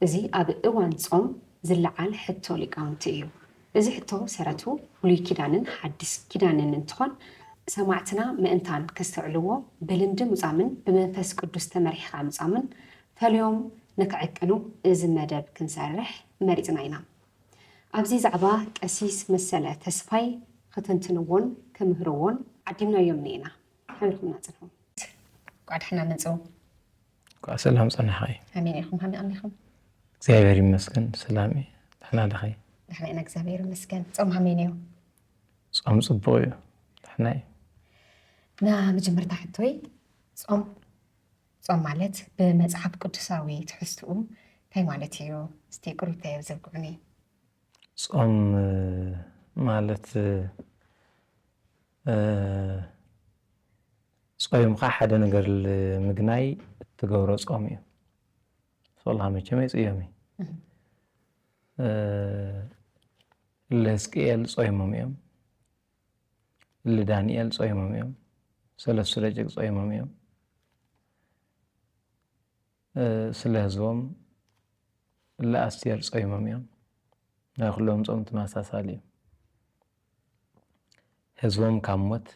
እዚ ኣብ እዋን ጾም ዝለዓል ሕቶ ሊቃውንቲ እዩ። እዚ ሕቶ ሰረቱ ብሉይ ኪዳንን ሓዲስ ኪዳንን እንትኾን ሰማዕትና ምእንታን ከስተውዕልዎ ብልምዲ ምጻምን ብመንፈስ ቅዱስ ተመሪሕኻ ምጻምን ፈልዮም ንክዕቅኑ እዚ መደብ ክንሰርሕ መሪጽና ኢና። ኣብዚ ዛዕባ ቀሲስ መሰለ ተስፋይ ኽተንትንዎን ክምህርዎን ዓዲምናዮም እኒኤና። ሓቢርኩምና ጽንሑ። እንኳዕ ደሕና መጹ። እኳዕ ሰላም ጸናሕኸይ ኣሜን ኢኹም ሃመይ ኣሚኹም እግዚኣብሔር ይመስገን ሰላም እዩ ድሕና ድኸይ ድሕና ኢና እግዚኣብሔር ይመስገን ጾም ሃመይ ነዮ ጾም ጽቡቕ እዩ ድሕና እዩ ና መጀመርታ ሕቶይ ጾም ጾም ማለት ብመጽሓፍ ቅዱሳዊ ትሕዝትኡ እንታይ ማለት እዩ እስቲ ቅሩብታይ ዘብቅዑኒ ጾም ማለት ጾይምካ ሓደ ነገር ልምግናይ እትገብሮ ጾም እዩ ሶላ መቸም ኣይጽዮሚ ልህዝቅኤል ጾይሞም እዮም ልዳንኤል ጾይሞም እዮም ሰለስቱ ደቂቅ ጾይሞም እዮም ስለ ህዝቦም እለ ኣስቴር ጾይሞም እዮም ናይ ኩሎም ጾም ትማሳሳሊ እዩ ህዝቦም ካብ ሞት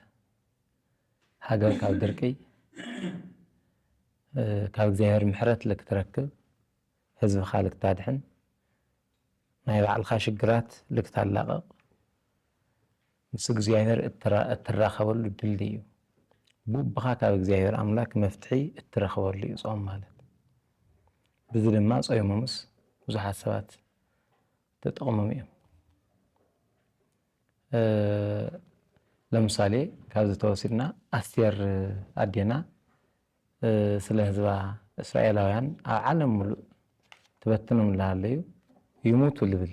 ሃገር ካብ ድርቂ ካብ እግዚኣብሔር ምሕረት ልክትረክብ ህዝብኻ ልክታድሕን ናይ ባዕልካ ሽግራት ልክታላቀቅ ምስ እግዚኣብሔር እትራኸበሉ ድልድይ እዩ። ብኡብኻ ካብ እግዚኣብሔር ኣምላክ መፍትሒ እትረኽበሉ እዩ ጾም ማለት። ብዚ ድማ ጾይሞምስ ብዙሓት ሰባት ተጠቕሞም እዮም። ለምሳሌ ካብዚ ተወሲድና ኣስቴር ኣዴና ስለ ህዝባ እስራኤላውያን ኣብ ዓለም ሙሉእ ትበትኖም ኣለዩ ይሙቱ ልብል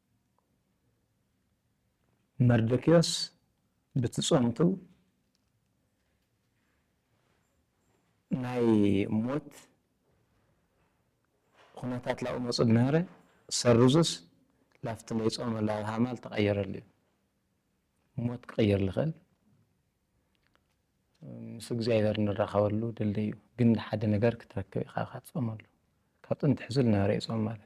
መርዶክዮስ ብትጾምቱ ናይ ሞት ኩነታት ላብኡ መጹ ድነበረ ሰሩዙስ ላፍቲ ናይ ጾመ ላብ ሃማል ተቐየረሉ እዩ ሞት ክቐየር ልኽእል ምስ እግዚኣብሔር ንራኸበሉ ድልድይ እዩ ግን ሓደ ነገር ክትረክብ ኢኻ ካትጾመሉ ካብ ጥንቲ ሕዙ ልነበረ እዩ ጾም ማለት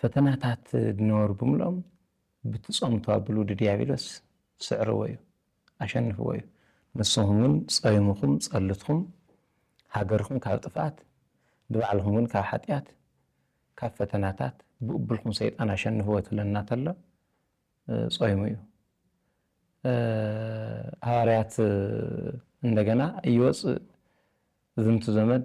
ፈተናታት ድነበሩ ብምልኦም ብቲ ጾምቱ ኣብሉ ድድያብሎስ ስዕርዎ እዩ ኣሸንፍዎ እዩ። ንስኹም ግን ጾይምኹም ጸልትኩም ሃገርኩም ካብ ጥፍኣት ንባዕልኹም ግን ካብ ሓጥያት ካብ ፈተናታት ብኡብልኩም ሰይጣን ኣሸንፍዎ ትብለና ተሎ ጾይሙ እዩ። ሃዋርያት እንደገና እይወጽእ ዝንቱ ዘመድ።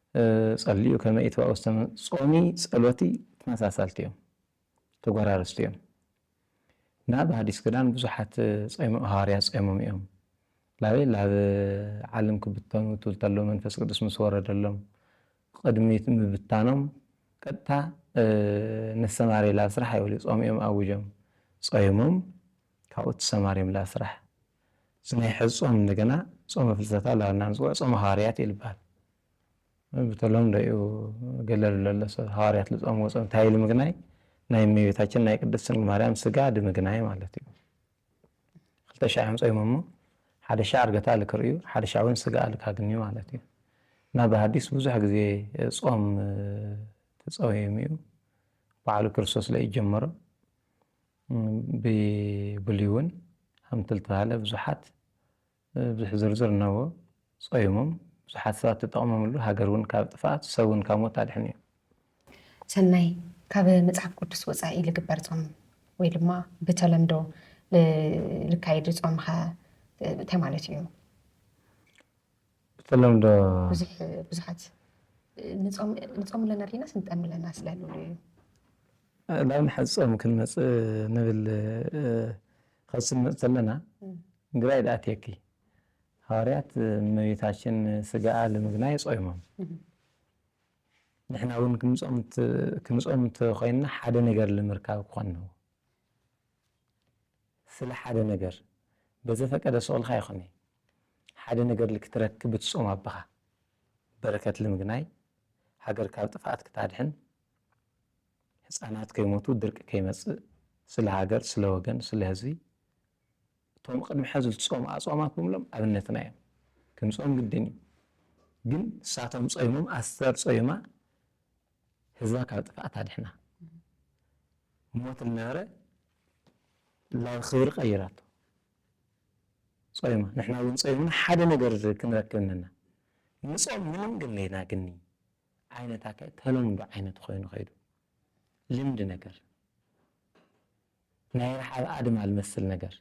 ጸልዩ ከመ ኢትባኡ ዝተመ ጾሚ ጸሎቲ ተመሳሳልቲ እዮም ተጎራረስቲ እዮም ናብ ሃዲስ ክዳን ብዙሓት ጾይሞ ሃዋርያት ጾይሞም እዮም ላበይ ላብ ዓለም ክብተኑ ትብል ተሎ መንፈስ ቅዱስ ምስ ወረደሎም ቕድሚ ምብታኖም ቀጥታ ንሰማርያ ላብ ስራሕ ኣይበሉ ጾም እዮም ኣውጆም ጾይሞም ካብኡ ትሰማርዮም ላብ ስራሕ እዚ ናይ ሐዚ ፆም እንደገና ፆመ ፍልሰታ እላበልና ንፅውዖ ፆመ ሃዋርያት እዩ ልባሃል ብተለምዶ እዩ ገለ ልብለሎ ሰብ ሃዋርያት ልፆምዎ ፆም እንታይ ኢሉ ምግናይ ናይ እመቤታችን ናይ ቅድስት ድንግል ማርያም ስጋ ድምግናይ ማለት እዩ ክልተ ሻዕ እዮም ፆይሞሞ ሓደ ሻዕ እርገታ ልክርእዩ ሓደ ሻዕ እውን ስጋ ልካግንዩ ማለት እዩ እና ብሃዲስ ብዙሕ ግዜ ፆም ተፀውዮም እዩ በዓሉ ክርስቶስ ለእጀመሮ ብብሉይውን ሃምትልተባህለ ብዙሓት ብዙሕ ዝርዝር እነዎ ጾይሙም ብዙሓት ሰባት ተጠቕሞምሉ ሃገርውን ካብ ጥፍኣት ሰብውን ካብ ሞት ኣድሕኑ እዩ። ሰናይ ካብ መጽሓፍ ቅዱስ ወጻኢ ልግበር ጾም ወይ ድማ ብተለምዶ ልካየድ ጾምኸ እንታይ ማለት እዩ? ብተለምዶ ብዙሕ ብዙሓት ንጾም ኣለና ዲናስ ንጠሚ ኣለና ስለ ልብሉ እዩ። ላብ ንሓ ጾም ክንመጽእ ንብል ኸስ ንመጽእ ተለና ግራይ ድኣትየኪ ሃዋርያት እመቤታችን ስጋኣ ልምግናይ ጾይሞም ንሕና ውን ክንጾም ክንጾም እንተ ኾይንና ሓደ ነገር ልምርካብ ክኾን ነው። ስለ ሓደ ነገር በዘፈቀደ ስቅልካ ይኩኒ ሓደ ነገር ልክትረክብ ብትጾም ኣባካ በረከት ልምግናይ ሃገር ካብ ጥፍኣት ክታድሕን ህጻናት ከይሞቱ ድርቂ ከይመጽእ ስለ ሃገር ስለ ወገን ስለ ህዝቢ እቶም ቅድሚ ሐዚ ልትጾሙ ኣጽዋማት ብምሎም ኣብነትና እዮም ክንጾም ግድን እዩ ግን ንሳቶም ጾይሞም ኣስተር ጾይማ ህዝባ ካብ ጥፍኣት ኣድሕና ሞት ዝነበረ ናብ ክብሪ ቀይራቶ ጾይማ ንሕና እውን ጾይምና ሓደ ነገር ክንረክብ ነና ንጾም ምንም ግለይና ግኒ ዓይነት ኣካይ ተለምዶ ዓይነት ኮይኑ ከይዱ ልምዲ ነገር ናይ ረሓብ ኣድማ ዝመስል ነገር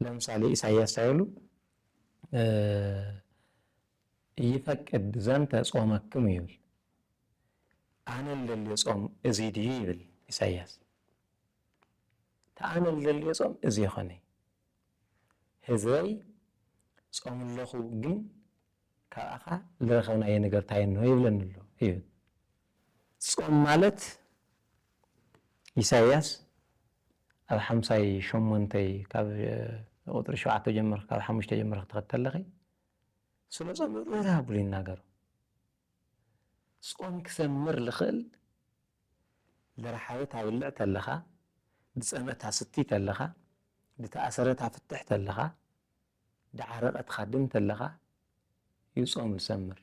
ለምሳሌ ኢሳያስ ሳይሉ ኢይፈቅድ ዘንተ ጾመክሙ ይብል ኣነ ልደልዮ ጾም እዚ ድዩ ይብል ኢሳያስ እቲ ኣነ ልደልዮ ጾም እዚ ኣይኮነይ ህዝበይ ጾም ኣለኹ ግን ካብኣኻ ልረኸብናዮ ነገር ታይ እንሆ ይብለኒ ኣሎ ይብል ጾም ማለት ኢሳያስ ኣብ ሓምሳይ ሸሞንተይ ካብ ቁጽሪ ሸውዓተ ጀምርኺ ካብ ሓሙሽተ ጀምርኺ ክትኸድ ተለኺ ስነ ጾም ምእራብ ብሉ ይናገሩ ጾም ክሰምር ልኽእል ዝረሓበ ታብልዕ ተለኻ ዝጸምአ ታስቲ ተለኻ ዝተኣሰረ ታፍትሕ ተለኻ ደዓረቐ ትኻድም ተለኻ ዩ ጾም ዝሰምር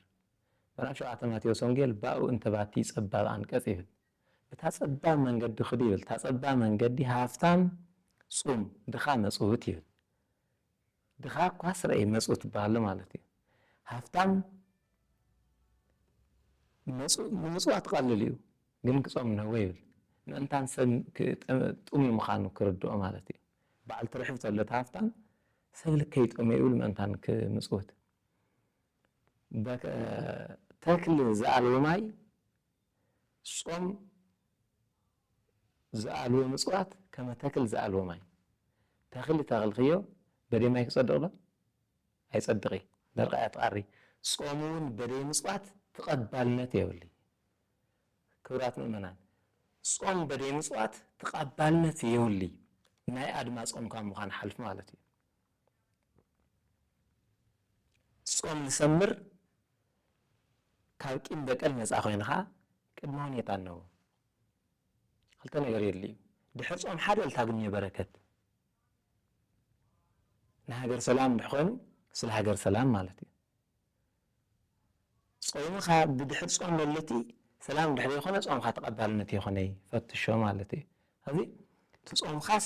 ምዕራፍ ሸውዓተ ማቴዎስ ወንጌል ባኡ እንተባቲ ጸባብ ኣንቀጽ ይብል እታ ጸባብ መንገዲ ክዱ ይብል እታ ጸባብ መንገዲ ሃፍታም ጹም ድኻ መጽውት ይብል ድኻ እኳ ስረይ መጹ ትበሃሎ ማለት እዩ ሃፍታም መጹ ንምጽዋት ቐልል እዩ ግን ክጾም ነወ ይብል ምእንታን ሰብ ክጥምይ ምኻኑ ክርድኦ ማለት እዩ በዓል ትርሕብ ተሎ እቲ ሃፍታም ሰብ ልከይ ይጠምየ ይብል ምእንታን ክምጽውት ተክል ዝኣልቦ ማይ። ጾም ዝኣልቦ ምጽዋት ከመ ተክል ዝኣልቦ ማይ ተክሊ ተክልክዮ በደይ ማይ ክጸድቅ ዶ ኣይጸድቅ እዩ ደርቃ እያ ትቃሪ ጾም ውን በደይ ምጽዋት ትቀባልነት የብልይ ክብራት ምእመናን ጾም በደይ ምጽዋት ትቃባልነት የውልይ ናይ ኣድማ ጾምካ ምኳን ሓልፍ ማለት እዩ ጾም ንሰምር ካብ ቂም በቀል ነጻ ኮይንኻ ቅድመ ሁኔታ ኣለዎ ክልተ ነገር የድልዩ ድሕሪ ጾም ሓደ እል ታግኘ በረከት ንሃገር ሰላም ድሕ ኮይኑ ስለ ሃገር ሰላም ማለት እዩ ጾምኻ ብድሕሪ ጾም ለለቲ ሰላም ድሕ ዘይኮነ ጾምኻ ተቀባልነት የኮነይ ፈትሾ ማለት እዩ እዚ ትጾምኻስ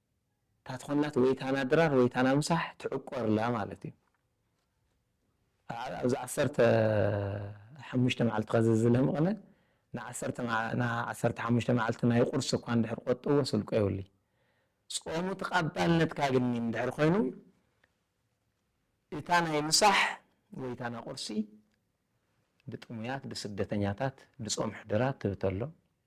እታ ትኾናት ወይ ታና ድራር ወይ ታና ምሳሕ ትዕቆርላ ማለት እዩ። ኣብዚ ዓሰርተ ሓሙሽተ መዓልቲ ከዚ ዝለምቕነ ንዓሰርተ ንዓሰርተ ሓሙሽተ መዓልቲ ናይ ቁርሲ እኳ እንድሕር ቆጥብዎ ስልቆ የብሉይ። ጾሙ ተቓባልነት ካግኒ እንድሕር ኮይኑ እታ ናይ ምሳሕ ወይ ታና ቁርሲ ብጥሙያት ብስደተኛታት ብጾም ሕድራት ትብተሎም።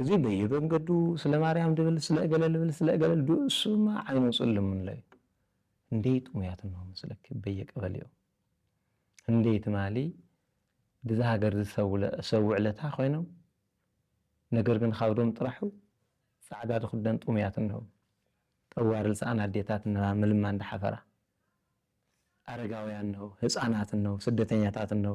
እዚ በየበንገዱ ስለ ማርያም ድብል ስለ እገለ ልብል ስለ እገለ ልዱ እሱማ ዓይኑ ጽልምንሎ እዩ ህንደይ ጥሙያት እንሆ ምስለኪ በየቀበሌኡ ህንደይ ትማሊ ድዛ ሃገር እዚ ሰብ ውዕለታ ኮይኖም ነገር ግን ኻብዶም ጥራሑ ጻዕዳ ድኽደን ጥሙያት እንሆ ጠዋሪ ልሰኣን ኣዴታት እንሆ ምልማን ድሓፈራ ኣረጋውያን እንሆ ህጻናት እንሆ ስደተኛታት እንሆ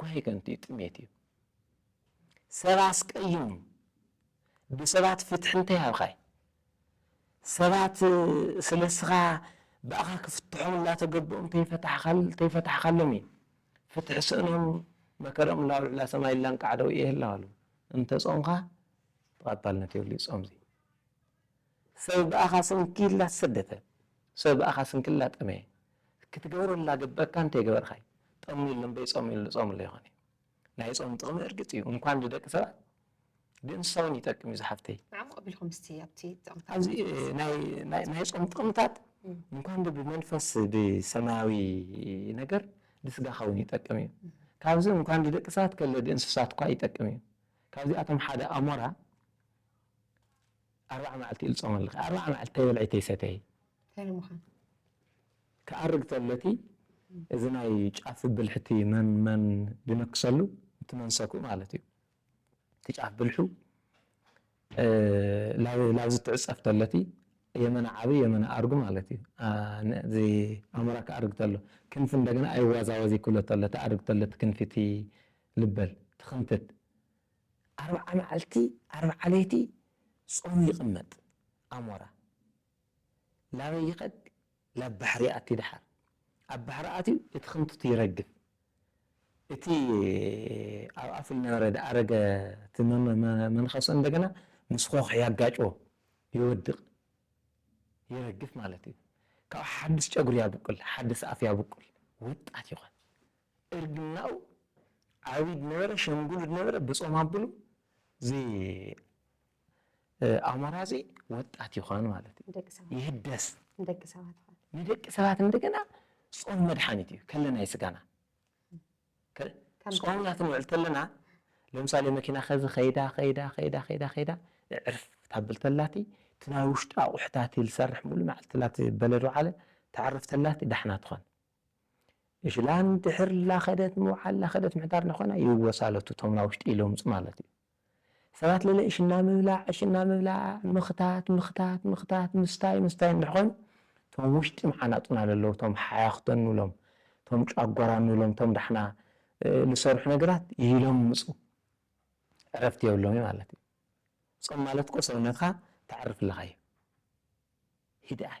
ጓሂ ከንቱ እዩ፣ ጥሜት እዩ። ሰብ ኣስቀይሙ ብሰባት ፍትሒ እንታይ ሃብኻይ? ሰባት ስለ እስኻ ብኣኻ ክፍትሖም እናተገበኦም እንተይፈታሕካሎም እዩ ፍትሒ ስእኖም መከርኦም ናብ ልዕላ ሰማይ ላንቃዕ ደው እየ ይህላዋሉ። እንተጾምካ ተቐባልነት የብሉይ ጾምዚ። ሰብ ብኣኻ ሰንኪላ ተሰደተ፣ ሰብ ብኣኻ ስንክላ ጠመየ፣ ክትገብረላ ግበካ እንተይገበርካዩ ጠምዩ እሎ እምበይ ጸምዩ እሉ ጸምሉ ኣይኾን እዩ። ናይ ጾም ጥቕሚ እርግጽ እዩ እንኳን ንደቂ ሰባት ንእንስሳ ውን ይጠቅም እዩ ዝሓፍተይ። ዓሙቕ ኣቢልኩም እስቲ ኣብቲ ጥቕምታት ኣብዚ ናይቲ ናይ ናይ ናይ ናይ ናይ ጾም ጥቕምታት እንኳን ብ ብመንፈስ ብሰማያዊ ነገር ንስጋኻ ውን ይጠቅም እዩ። ካብዚ እንኳን ንደቂ ሰባት ከለ ንእንስሳትኳ ይጠቅም እዩ። ካብዚኣቶም ሓደ ኣሞራ ኣርባዓ መዓልቲ እዩ ዝጾም ኣለኪ ኣርባዓ መዓልቲ ተይበልዒ ተይሰተዪ ታይ ንምዃን ክኣርግ ተሎ እቲ እዚ ናይ ጫፍ ብልሕቲ መን መን ዝነክሰሉ እቲ መንሰኩ ማለት እዩ እቲ ጫፍ ብልሑ ላብ ላብ ዝትዕጸፍ ተሎ እቲ የመና ዓቢ የመና ኣርጉ ማለት እዩ እዚ ኣሞራ ክኣርግ ተሎ ክንፊ እንደገና ኣይዋዛወዝ ይክሎ ተሎ ተኣርግ ተሎ እቲ ክንፊ እቲ ልበል ትክንትት ኣርብዓ መዓልቲ ኣርብዓ ለይቲ ጾሙ ይቅመጥ ኣሞራ ላበይ ይከድ ላብ ባሕሪ ይኣቲ ድሓር ኣብ ባሕሪ ኣትዩ እቲ ክንቱቲ ይረግፍ እቲ ኣብ ኣፉ ልነበረ ድኣረገ እቲ መንከሱ እንደገና ምስ ኾኽ ያጋጭዎ ይወድቅ ይረግፍ ማለት እዩ ካብኡ ሓድስ ጨጉሪ ያብቁል ሓድስ ኣፍ ያብቁል ወጣት ይኮን እርግናኡ ዓቢ ድነበረ ሸምግሉ ድነበረ ብጾም ኣብሉ እዚ ኣሞራ እዚ ወጣት ይኾን ማለት እዩ ደቂ ሰባት ይህደስ ንደቂ ሰባት ይኾን ንደቂ ሰባት እንደገና ጾም መድሓኒት እዩ ከለና ይስጋና ጾምና ክንውዕል ተለና ለምሳሌ መኪና ከዚ ከይዳ ከይዳ ከይዳ ከይዳ ከይዳ ዕርፍ ታብል ተላቲ እቲ ናይ ውሽጢ ኣቑሑታት ዝሰርሕ ሙሉ መዓልቲ ተላቲ በለዶ ዓለ ተዕርፍ ተላቲ ዳሕና ትኾን እሽላን ድሕር ላኸደት ምውዓል ላኸደት ምሕዳር ንኾና ይወሳለቱ ቶም ናውሽጢ ይለምጹ ማለት እዩ። ሰባት ለለ እሽና ምብላዕ እሽና ምብላዕ ምኽታት ምኽታት ምኽታት ምስታይ ምስታይ እንድሕኾይኑ ቶም ውሽጢ ምዓናጡና ለለው ቶም ሓያኽቶን ንብሎም ቶም ጫጓራን ንብሎም ቶም ዳሕና ልሰርሑ ነገራት ይለምጹ ዕረፍቲ የብሎምዩ ማለት እዩ። ጾም ማለት እኮ ሰውነትካ ተዕርፍለኻ እዩ። ሂድኣይ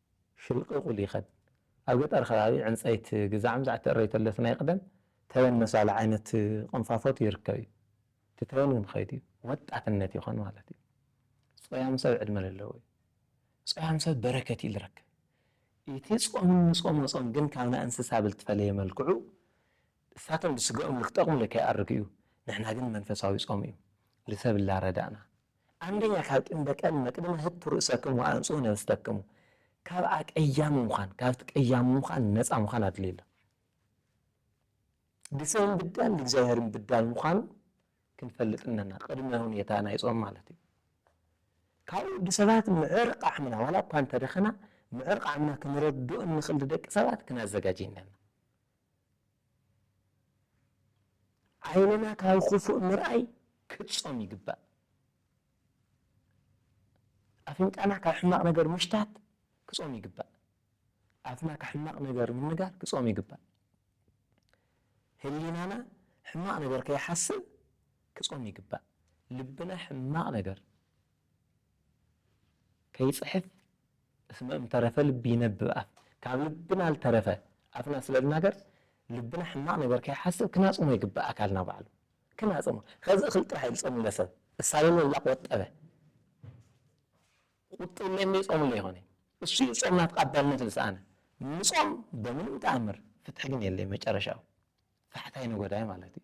ሽልቕቑል ይኸድ። ኣብ ገጠር ከባቢ ዕንጸይቲ ግዛዕም ዘዕተእረዩ ተለስ ናይ ቕደም ተበን መሳሊ ዓይነት ቕንፋፎት ይርከብ እዩ። እቲ ተበን እውን ኸይዱ እዩ። ወጣትነት ይኾን ማለት እዩ። ጾያም ሰብ ዕድመ ለለዎ እዩ። ጾያም ሰብ በረከት እዩ ልረክብ። እቲ ጾም እንጾሞ ጾም ግን ካብ ናይ እንስሳ ብልትፈለየ መልክዑ እሳቶም ብስገኦም ልክጠቕሙ ለከይኣርግ እዩ። ንሕና ግን መንፈሳዊ ጾም እዩ። ልሰብ እላረዳእና። ኣንደኛ ካብ ጥንደ ቀን መቅድመ ህቱ ርእሰክም ወኣንጽሁ ነፍሰክሙ ካብ ኣቀያሚ ምዃን ካብቲ ቀያሚ ምዃን ነጻ ምዃን ኣድልዩ ኣሎ። ንሰብን ብዳል ንእግዚኣብሔርን ብዳል ምዃኑ ክንፈልጥ እነና ቅድመ ሁኔታ ናይ ጾም ማለት እዩ። ካብኡ ወዲ ሰባት ምዕር ቃዕምና ዋላ እኳ እንተደኸና ምዕር ቃዕምና ክንረድኦ እንኽእል ደቂ ሰባት ክናዘጋጅ እነና። ዓይንና ካብ ኹፉእ ምርኣይ ክጾም ይግባእ። ኣፍንጫና ካብ ሕማቕ ነገር ምሽታት ክጾም ይግባእ። ኣፍና ካብ ሕማቕ ነገር ምንጋር ክጾም ይግባእ። ህሊናና ሕማቕ ነገር ከይሓስብ ክጾም ይግባእ። ልብና ሕማቕ ነገር። ከይጽሕፍ እስመ እምተረፈ ልብ ይነብብ ኣፍ ካብ ልብና ልተረፈ ኣፍና ስለ ዝናገር ልብና ሕማቅ ነገር ከይሓስብ ክናጽሞ ይግባእ ኣካልና ባዕሉ ክናጽሞ ከዚ እክል ጥራሕ እዩ ዝጸምለ ሰብ እሳልሎ እላ ቆጠበ ቁጥብ እለ እምበይ ጾምለ ይኮነ እሱ እዩ ጾምና ተቃባልነት ልስኣነ ምጾም በምንም ተኣምር ፍትሒ ግን የለይ መጨረሻኡ ፈሕታይ ነጎዳይ ማለት እዩ።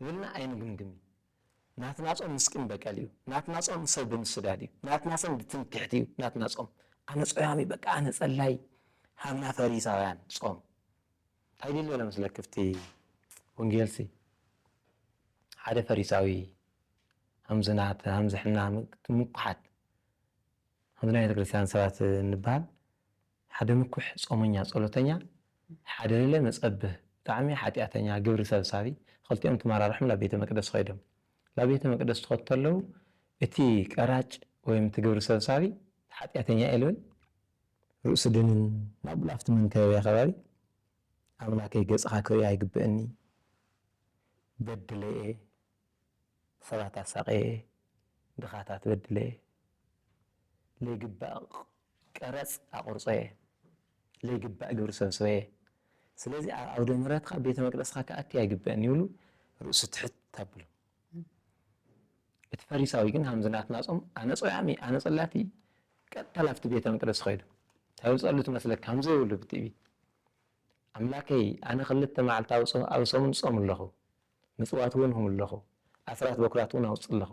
ክብልና ኣይንግምግምን። ናትና ጾም ምስ ቂም በቀል እዩ። ናትና ጾም ሰብ ብምስዳድ እዩ። ናትና ጾም ብትምክሕቲ እዩ። ናትና ጾም ኣነ ጾያሚ በቃ ኣነ ጸላይ ሃብና ፈሪሳውያን ጾም እንታይ ድልዮ ዶ ምስለ ክፍቲ ወንጌልሲ ሓደ ፈሪሳዊ ሃምዝናት ሃምዝሕና ምኩሓት ሃምዝና ቤተክርስትያን ሰባት እንባል ሓደ ምኩሕ ጾመኛ ጸሎተኛ ሓደ ለለ መጸብህ ብጣዕሚ ሓጢኣተኛ ግብሪ ሰብሳቢ ኽልቲኦም ተመራርሖም ላብ ቤተ መቅደስ ኸይዶም ላብ ቤተ መቅደስ ትኸዱ ተለዉ እቲ ቀራጭ ወይም እቲ ግብሪ ሰብሳቢ ሓጢኣተኛ እየ ልብል ርእሱ ድንን ኣብሉ ኣብቲ መንከበብያ ከባቢ ኣምላከይ ገጽኻ ክርኢ ኣይግብእኒ በድለ እየ ሰባት ኣሳቐየ፣ ድኻታት በድለየ፣ ለይግባእ ቀረጽ ኣቑርጸየ፣ ለይግባእ ግብሪ ሰብሰበየ፣ ስለዚ ኣብ ዓውደ ምሕረትካ ቤተ መቅደስካ ክኣቲ ኣይግበእን ይብሉ ርእሱ ትሕት ኣብሉ። እቲ ፈሪሳዊ ግን ሃምዚ ናትና ጾም ኣነ ጾያሚ ኣነ ጸላቲ ቀጥታ ላፍቲ ቤተ መቅደስ ኸይዱ እንታይ ውጸሉ ትመስለካ ሃምዘ ይብሉ ብትዕቢት ኣምላከይ ኣነ ክልተ መዓልቲ ኣብ ሰሙን ጾም ኣለኹ ምጽዋት ውን ሁምለኹ፣ ኣስራት በኵራት ውን ኣውጽለኹ፣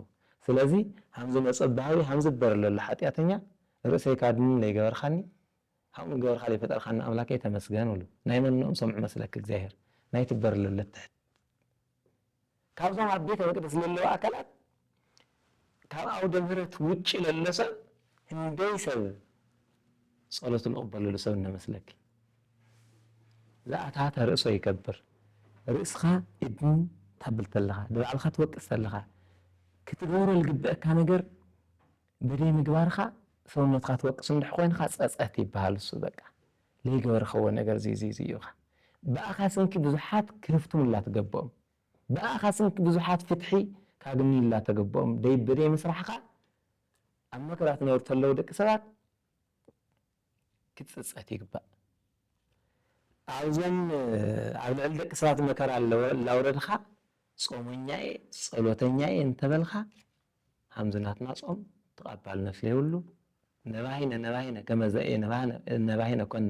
ስለዚ ሃምዚ መጸብሃሊ ሃምዚ እበረ ለሎ ሓጢኣተኛ፣ ርእሰይ ካድኒ ለይገበርኻኒ፣ ሃምኡ እገበርካ ለይፈጠርካኒ ኣምላከይ ተመስገን እብሉ። ናይ መነኦም ሰምዑ መስለኪ እግዚኣብሔር፣ ናይቲ እበረ ለሎ ትሕት። ካብዞም ኣብ ቤተ መቅደስ ለለዉ ኣካላት ካብ ኣውደ ምህረት ውጪ ለሎ ሰብ ህንደይ ሰብ ጸሎት ንቕበለሉ ሰብ እነመስለኪ ዝኣታ ተርእሶ ይገብር ርእስኻ እድን ታብል ተለኻ ንባዕልኻ ትወቅስ ተለኻ ክትገብሮ ልግብአካ ነገር በደይ ምግባርካ ሰውነትካ ትወቅስ እንድሕ ኮይንካ ጸጸት ይበሃል እሱ በቃ ለይገበርኸዎ ነገር ዝይዝይዝዩኻ ብኣኻ ስንኪ ብዙሓት ክህፍትሙላ ትገብኦም ብኣኻ ስንት ብዙሓት ፍትሒ ካግንዩላ ተገብኦም ደይ ብደይ ምስራሕኻ ኣብ መከራ ትነብሩ ተለዉ ደቂ ሰባት ክትጽጸት ይግባእ ኣብዞም ኣብ ልዕሊ ደቂ ሰባት መከራ ላውረድኻ ጾመኛ እየ ጸሎተኛ እየ እንተበልኻ ኣምዚ ናትና ጾም ተቐባልነት ለይብሉ ነባሂነ ነባሂነ ከመዘ እየ ነባሂነ ኮነ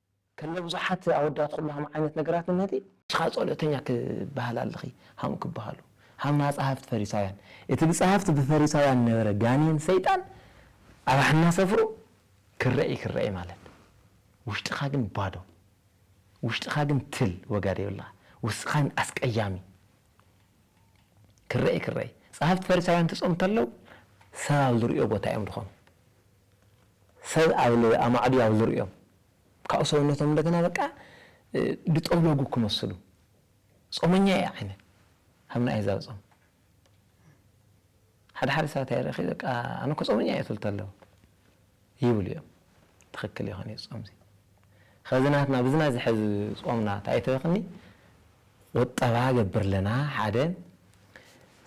ከለ ብዙሓት ኣወዳት ኩላህም ዓይነት ነገራት እነቲ። ሽኻ ጸሎተኛ ክበሃል ኣለኺ ሃም ክበሃሉ ሃማ ጸሃፍት ፈሪሳውያን እቲ ብጸሃፍት ብፈሪሳውያን ነበረ ጋኔን ሰይጣን ኣብ ሓና ሰፍሩ ክረኢ ክረኢ ማለት ውሽጥኻ ግን ባዶ ውሽጥኻ ግን ትል ወጋ ደይብልኻ ውስኻን ኣስቀያሚ ክረኢ ክረኢ ጸሃፍት ፈሪሳውያን ትጾም ተለው ሰብ ኣብ ዝርእዮ ቦታ እዮም ድኾኑ ሰብ ኣብ ኣማዕድዩ ኣብ ዝርእዮም ካብኡ ሰውነቶም እንደገና በቃ ድጠውለጉ ክመስሉ ጾመኛ እየ ዓይነ ኣብ ናይ ኣህዛብ ጾም ሓደ ሓደ ሰባት ኣይረኺ በቃ ኣነ እኮ ጾመኛ እየ ትብል ተለዉ ይብሉ እዮም ትኽክል ይኾን እዩ ጾም እዚ ከዚ ናትና ብዝና ዝሕዝ ጾምና እንታይ ተበክኒ ቁጠባ ገብር ለና ሓደ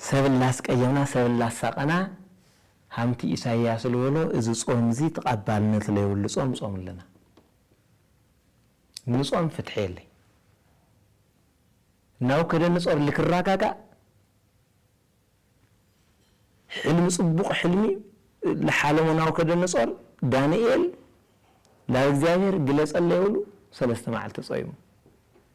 ሰብ ላስቀየምና ሰብ ላሳቀና ሃምቲ ኢሳያስ ልበሎ እዚ ጾም እዚ ተቃባልነት ለይብሉ ጾም ጾም ኣለና ንጾም ፍትሒ የለይ ናውከደንጾር ልክራጋጋእ ሕልሚ ጽቡቅ ሕልሚ ልሓለሙ ናውከደንጾር ዳንኤል ላብ እግዚኣብሔር ግለጸለይ ብሉ ሰለስተ ማዓልቲ ጾይሙ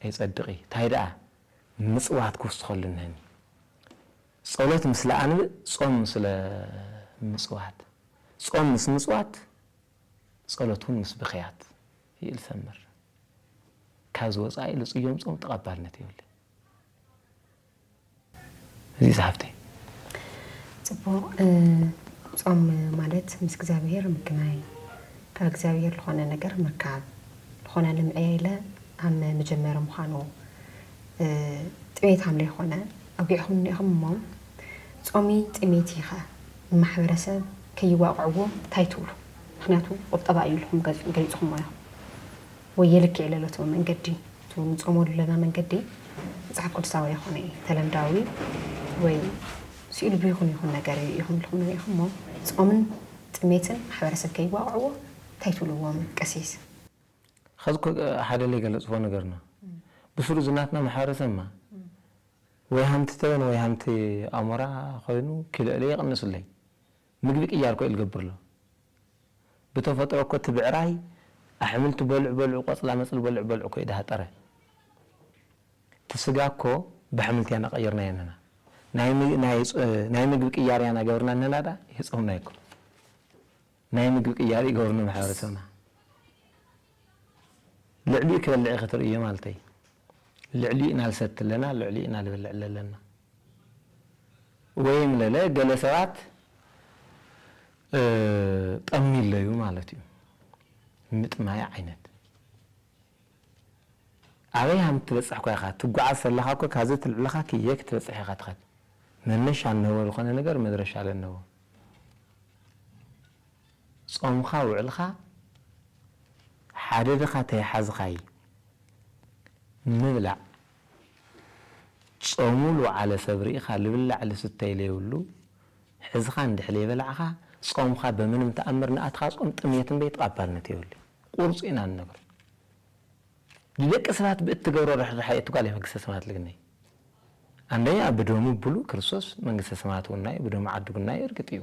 የጸድቂ ታይ ደኣ ምጽዋት ክውስኸሉ እነሀኒ ጸሎት ምስለ ኣንብእ ጾም ምስለ ምጽዋት ጾም ምስ ምጽዋት ጸሎት ውን ምስ ብኽያት ይእል ሰምር ካብዚ ወጻኢ ልጽዮም ጾም ተቀባልነት የብሉይ። እዚ እዩ ዝሓፍተይ። ጽቡቅ ጾም ማለት ምስ እግዚኣብሄር ምግናይ ካብ እግዚኣብሄር ልኾነ ነገር ምርካብ ልኾነ ልምዕየ ኢለ ሃም ምጀመሪ ምዃኑ ጥሜት ሃም ለይኾነ ኣውጊዕኹምኒ ኢኹም እሞ ጾሚ ጥሜት ኢኸ ንማሕበረሰብ ከይዋቅዕዎ ታይ ትብሉ ምኽንያቱ ቁጠባ እዩ ኢልኹም ገሊጽኹሞ ኢኹም። ወይ የልክዕ ለሎትዎ መንገዲ እቲ ንጾመሉ ለና መንገዲ መጽሓፍ ቅዱሳዊ ኣይኮነ እዩ ተለምዳዊ ወይ ስኢሉ ብይኹን ይኹን ነገር እዩ ኢኹም ልኹኑ ኢኹም እሞ ጾምን ጥሜትን ማሕበረሰብ ከይዋቕዕዎ እንታይ ትብልዎም ቀሲስ? ኸዚ እኮ ሓደ ለይገለጽዎ ነገር ነው ብስሩ እዚ ናትና ማሕበረሰብ እማ ወይ ሃምቲ ተበን ወይ ሃምቲ ኣሞራ ኾይኑ ኪሎ ለይቕንስለይ ምግቢ ቅያር ኮዩ ልገብርሎ ብተፈጥሮ እኮ እቲ ብዕራይ ኣሕምልቲ በልዑ በልዑ ቆፅላ መፅሊ በልዑ በልዑ ኮዩ ድሃጠረ እቲ ስጋ እኮ ባሕምልቲ ያና ቀይርናዮ ንህና ናይ ምግቢ ቅያር ያና ገብርና ንህና ዳኣ ይህፀውና ይኮኑ ናይ ምግቢ ቅያር ይገብሩ ንማሕበረሰብና። ልዕሊኡ ክበልዕ ኢኺ ትርእዮ ማልተይ። ልዕሊኡ ኢና ልሰቲ ኣለና፣ ልዕሊኡ ኢና ልበልዕ ለለና። ወይም ለለ ገለ ሰባት ጠሚ ኣለዩ ማለት እዩ። ምጥማይ ዓይነት ኣበይ ሃም ትበጽሕ እኳ ኢኻ ትጓዓዝ ሰለኻ እኮ ካብዚ ትልዕልኻ ክየ ክትበጽሕ ኢኻ ትኸድ መነሻ እንህቦ ዝኾነ ነገር መድረሻ ለነዎ። ጾምካ ውዕልካ ሓደ ድኻ ተይሓዝኻይ ምብላዕ ጾሙ ልውዓለ ሰብ ሪኢኻ ልብላዕ ልስተይ ለይብሉ ሕዝኻ እንድሕ ለይበላዕኻ ጾምካ በምንም ተኣምር ንኣትኻ ጾም ጥምየት እምበይ ትቓባልነት የብሉይ ቁርጽ ኢና ንነግር ልደቂ ስባት ብእትገብሮ ርሕራሐ እዩ እቲ ጓል መንግስተ ሰማያት ልግነይ ኣንደኛ ብደሙ ብሉ ክርስቶስ መንግስተ ሰማያት ውናይ ብደሙ ዓድጉናይ እርግጥ እዩ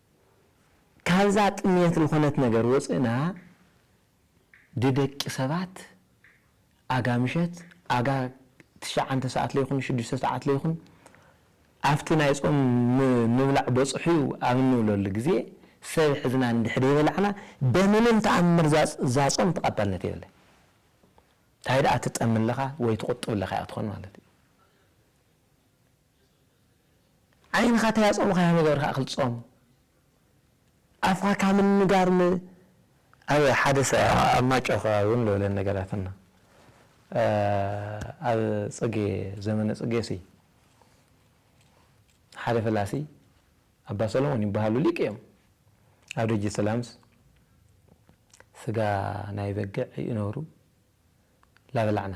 ካብዛ ጥምየት ልኾነት ነገር ወጽእና ድደቂ ሰባት ኣጋ ምሸት ኣጋ ትሽዓንተ ሰዓት ለይኹን ሽዱሽተ ሰዓት ለይኹን ኣብቲ ናይ ጾም ምብላዕ በጽሑዩ ኣብ እንብለሉ ግዜ ሰብ ሕዝና እንድሕር ደይበላዕና በምንም ተኣምር እዛ ጾም ተቐባልነት የብላን። ታይ ደኣ ትጠሚ ኣለኻ ወይ ትቑጥብ ኣለኻ ኢያ ትኾን ማለት ኢዩ። ዓይንኻ ታይ ኣጾሙኻያ ነገር ካኣ ክልጾም ኣፍካ ካብ ምንጋር ን ኣብ ሓደ ኣብ ማጮ ከባቢ ውን ልብለን ነገራት ኣሎ ኣብ ጽጌ ዘመነ ጽጌ ሲ ሓደ ፈላሲ ኣባ ሰሎሞን ይባሃሉ ሊቅ እዮም ኣብ ደጅ ሰላምስ ስጋ ናይ በግዕ ይእነሩ ላበላዕና።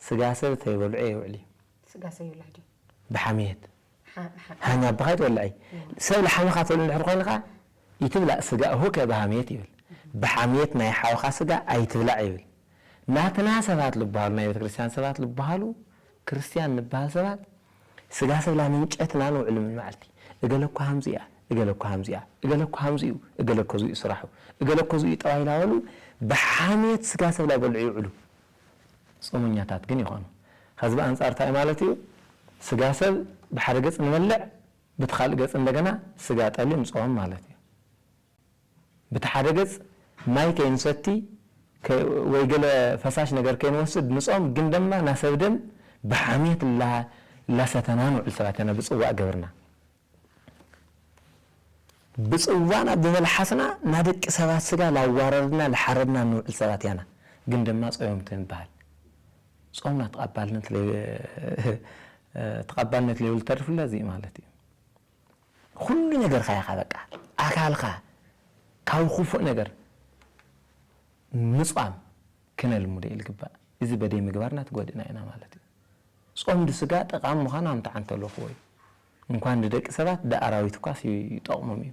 ስጋ ሰብ ተይበልዑ የውዕልዩ። ስጋ ሰብ ይውላዕድዩ። ብሓምየት ሓም ኣባኻ ኣይትወልዐይ። ሰብ ልሓመኻ ትብል እንድሕር ኮይንኻ ኢትብላዕ ስጋ እሁከ ብሃምየት ይብል። ብሓምየት ናይ ሓውኻ ስጋ ኣይትብላዕ ይብል። ናትና ሰባት ልብሃሉ ናይ ቤተክርስትያን ሰባት ልብሃሉ ክርስትያን ንብሃል ሰባት ስጋ ሰብ ላምንጨት እና ንውዕሉ ምን መዓልቲ። እገለ እኮ ሃምዚ እያ እገለ እኮ ሃምዚ እያ እገለ እኮ ሃምዚ እዩ እገለ እኮ እዙይ እዩ ስራሑ እገለ እኮ እዙይ እዩ ጠባይ ላበሉ ብሓምየት ስጋ ሰብ ላይበልዑ ይውዕሉ። ጾመኛታት ግን ይኾኑ። ኸዚ ብኣንጻር ታይ ማለት እዩ? ስጋ ሰብ ብሓደ ገጽ ንበልዕ ብቲ ኻልእ ገጽ እንደገና ስጋ ጠሊ ንጾም ማለት እዩ። ብቲ ሓደ ገጽ ማይ ከይንሰቲ ወይ ገለ ፈሳሽ ነገር ከይንወስድ ንጾም ግን ደማ ናሰብ ደም ብሓምየት እላሰተና ንውዕል ሰባት ኢና ብጽዋእ ገብርና ብጽዋና ብመልሓስና ናደቂ ሰባት ስጋ ላዋረድና ልሓረድና ንውዕል ሰባት ያና ግን ደማ ጾዮም ተንብሃል ጾምና ተቀባልነት ለይ ተቀባልነት ለይብሉ ተርፍ ለዚ ማለት እዩ ኩሉ ነገርካ ኢካ በቃ ኣካልካ ካብ ኩፉእ ነገር ምጽዋም ክነልምዶ ኢልግባእ እዚ በደይ ምግባርና ትጎድእና ኢና ማለት እዩ ጾም ድስጋ ጠቃሚ ምካኑ ኣምታዓንተለኩዎ እዩ እንኳን ንደቂ ሰባት ደኣራዊት እኳስ ይጠቕሞም እዩ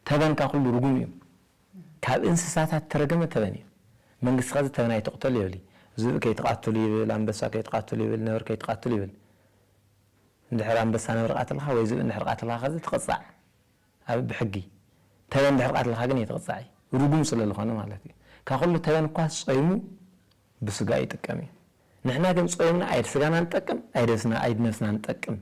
ተበን ካብ ኩሉ ርጉም እዩ ካብ እንስሳታት እተረገመ ተበን እዩ መንግስቲ ከዚ ተበን ኣይትቕተሉ የብሊ ዝብኢ ከይትቓትሉ ይብል ኣንበሳ ከይትቓትሉ ይብል ነብሪ ከይትቓትሉ ይብል እንድሕር ኣንበሳ ነብሪ ቓትልኻ ወይ ዝብኢ እንድሕር ቓትልኻ ከዚ ትቕጻዕ ኣብ ብሕጊ ተበን ድሕሪ ቃትልካ ግን ኣይትቅጻዕ እዩ ሩጉም ስለ ልኮነ ማለት እዩ ካብ ኩሉ ተበን እኳስ ጾይሙ ብስጋኡ ይጥቀም እዩ ንሕና ግን ጾይምና ኣይድ ስጋና ንጠቅም ኣይደስና ኣይድ ነብስና ንጠቅም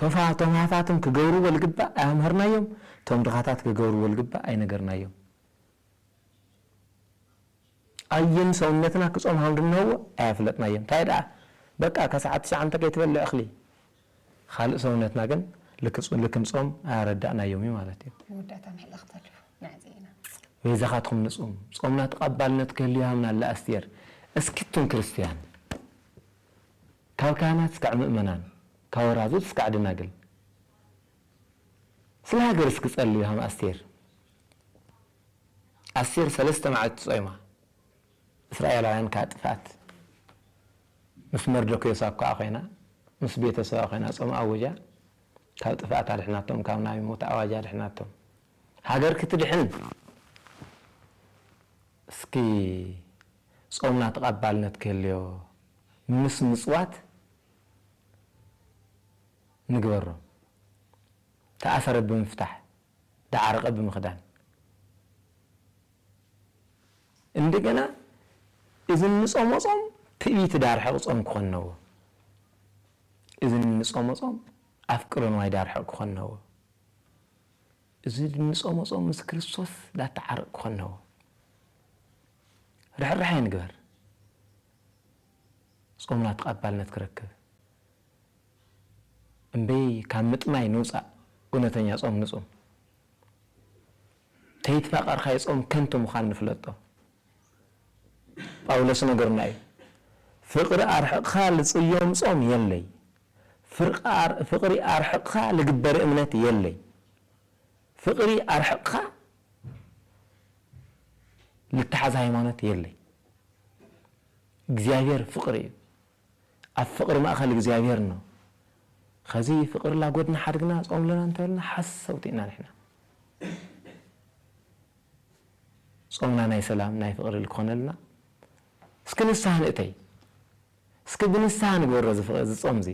ቶፋ ቶም ሃፋትም ክገብርዎ ልግባእ ኣያምሀርናዮም ቶም ድኻታት ክገብርዎ ልግባእ ኣይነገርናዮም። ኣየን ሰውነትና ክጾም ሃምድነዎ ኣያፍለጥናዮን ታይ ደኣ በቃ ከሰዓት ትሽዓ እንተ ከይትበልዕ እክሊ ኻልእ ሰውነትና ግን ልክ ልክም ጾም ኣያረዳእናዮም እዩ ማለት እዩ። መወዳእታ ምሕላኽ ተሪፉ መዕዘ ኢና ንጽም። በይዛኻትኩም ንጹም ጾምና ተቀባልነት ክህልዮ ሃምና ኣላ ኣስቴር እስኪ እቱም ክርስትያን ካብ ካህናት እስካዕ ምእመናን ካብ ወራዙት እስካዕ ደናግል ስለ ሃገር እስኪ ጸልዩ ሃም ኣስቴር ኣስቴር ሰለስተ መዓልቲ ጾይማ እስራኤላውያን ካብ ጥፍኣት ምስ መርዶክዮስ ኣብ ከኣ ኮይና ምስ ቤተ ሰባ ኮይና ጾም ኣውጃ ካብ ጥፍኣት ኣድሕናቶም ካብ ናይ ሞት ኣዋጅ ኣድሕናቶም ሃገር ክትድሕን እስኪ ጾምና ተቀባልነት ክህልዮ ምስ ምጽዋት ንግበሮ ተኣሰረት ብምፍታሕ ዳዓረቀ ብምክዳን እንደገና እዚ እንጾሞ ጾም ትእቢት ዳርሕቅ ጾም ክኮን ነዎ እዚ እንጾሞ ጾም ኣፍቅሮ ንዋይ ዳርሕቅ ክኮን ነዎ እዚ እንጾሞ ጾም ምስ ክርስቶስ ዳተዓርቅ ክኮን ነዎ ርሕራሐ ንግበር ጾምና ተቀባልነት ክረክብ እምበይ ካብ ምጥማይ ንውጻእ እውነተኛ ጾም ንጹም። ተይትፋቀርካ ይጾም ከንቱ ምዃኑ ንፍለጦ። ጳውሎስ ነገሩና እዩ ፍቅሪ ኣርሕቅካ ልጽዮም ጾም የለይ ፍቅሪ ኣርሕቅካ ልግበር እምነት የለይ ፍቅሪ ኣርሕቅካ ልትሓዝ ሃይማኖት የለይ እግዚኣብሔር ፍቅሪ እዩ። ኣብ ፍቅሪ ማእከል እግዚኣብሔር እኖ ኸዚ ፍቅሪ ላጎድና ሓድግና ጾም ለና እንተበልና ሓሰውቲ እና ንሕና ጾምና ናይ ሰላም ናይ ፍቅሪ ልክኾነልና እስኪ ንስሃ ንእተይ እስኪ ብንስሃ ንግበሮ እዚ ጾም እዚ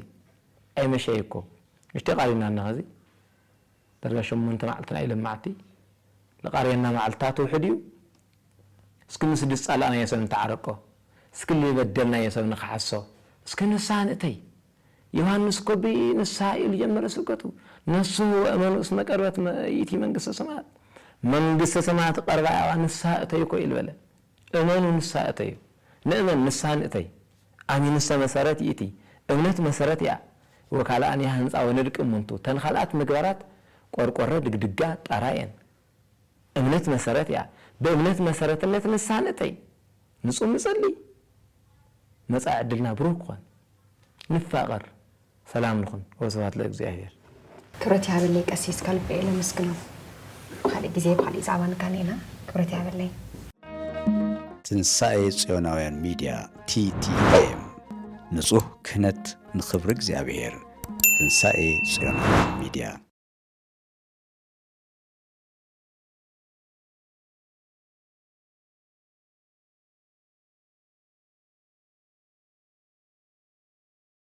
ኣይመሸይ እኮ ምሽተይ ቃሪብና እና ኸዚ ዳርጋ ሸሞንተ መዓልቲ ናይ ለማዕቲ ልቓርየና መዓልትታት ውሕድ እዩ እስኪ ምስዲ ዝፃላእናዮ ሰብ ንተዓረቆ እስኪ ልበደልናዮ ሰብ ንክሓሶ እስኪ ንስሃ ንእተይ ዮሃንስ ኮቢ ንስሃ ኢሉ ጀመረ ስብከቱ ነስሁ ወእመኑ እስመ ቀርበት ይእቲ መንግስተ ሰማያት መንግስተ ሰማያት ቀርባ እያ ንስሃ እተዩ እኮ ኢሉ በለ እመኑ ንስሃ እተዩ ንእመን ንስሃ ንእተይ ኣሚኑሰ መሰረት ይእቲ እምነት መሰረት እያ ወካልኣን ያህንጻ ወንድቂ እሙንቱ ተን ካልኣት ምግባራት ቆርቆረ ድግድጋ ጣራ እየን እምነት መሰረት እያ ብእምነት መሰረትነት ንስሃ ንእተይ ንጹም ንጸሊ መጻኢ ዕድልና ብሩህ ክኾን ንፋቐር ሰላም ንኹን ወስብሃት ለእግዚኣብሔር። ክብረት ይሃበለይ ቀሲስ ከልቢ እየ ለመስግኖም ብካሊእ ግዜ ብካሊእ ዛዕባ ንጋነየና ክብረት ይሃበለይ። ትንሳኤ ጽዮናውያን ሚድያ፣ TTM፣ ንጹህ ክህነት ንኽብሪ እግዚኣብሔር ትንሳኤ ጽዮናውያን ሚድያ።